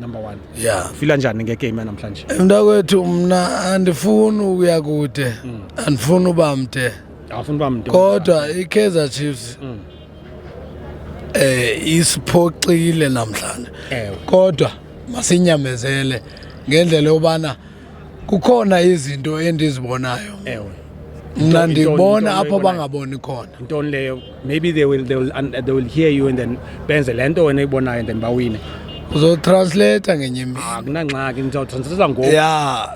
number one yeah fila njani ngegame yanamhlanje eh, mntakwethu mna andifuni ukuya kude mm. andifuni uba mde awufuni uba mde kodwa ikaizer chiefs mm. eh isiphoxile namhlanje kodwa masinyamezele ngendlela yobana kukhona izinto endizibonayo ewe mna ndibona apho bangaboni khona ntoni leyo maybe they will, they will, they will hear you and then benze le nto wena ibonayo and then bawine uzotranslata ngenye imini akunangxaki ndizawutranslata ngoku ya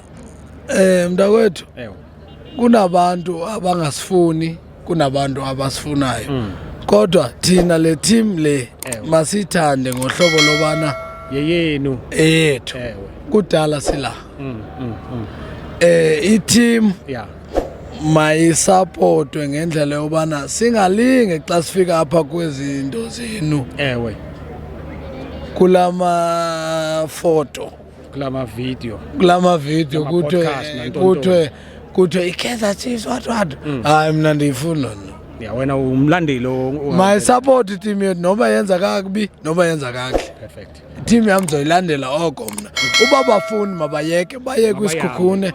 um mntakwethu kunabantu abangasifuni kunabantu abasifunayo mm. kodwa thina le team le masithande ngohlobo lobana yeyenu eyethu kudala sila mm, mm, mm. eh i-team yeah mayisapotwe ngendlela yobana singalinge xa sifika apha kwezinto zenu ewe kulama foto kula mavidiyo kula mavidiyo kuthiwe kuthiwe kuthiwe ikaizer chiefs what what mm. hayi mna ndiyifuni loo nto ya wena umlandeli my support team yethu noba yenza kakubi noba yenza kakuhle perfect team yam ndizoyilandela oko mna uba bafuni mabayeke baye kwisikhukhune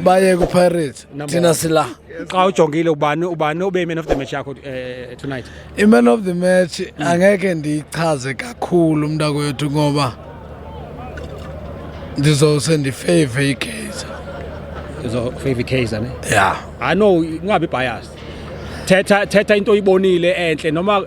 baye kwipirates thina sila xa ujongile ubani ubani obe man of the match yakho uh, tonight i-man of the match mm. angeke ndiyichaze kakhulu umntakwethu ngoba ndizose ndifave igeyza uzofave ikaizer ne ya i know ungabi biased thetha thetha into oyibonile enhle noma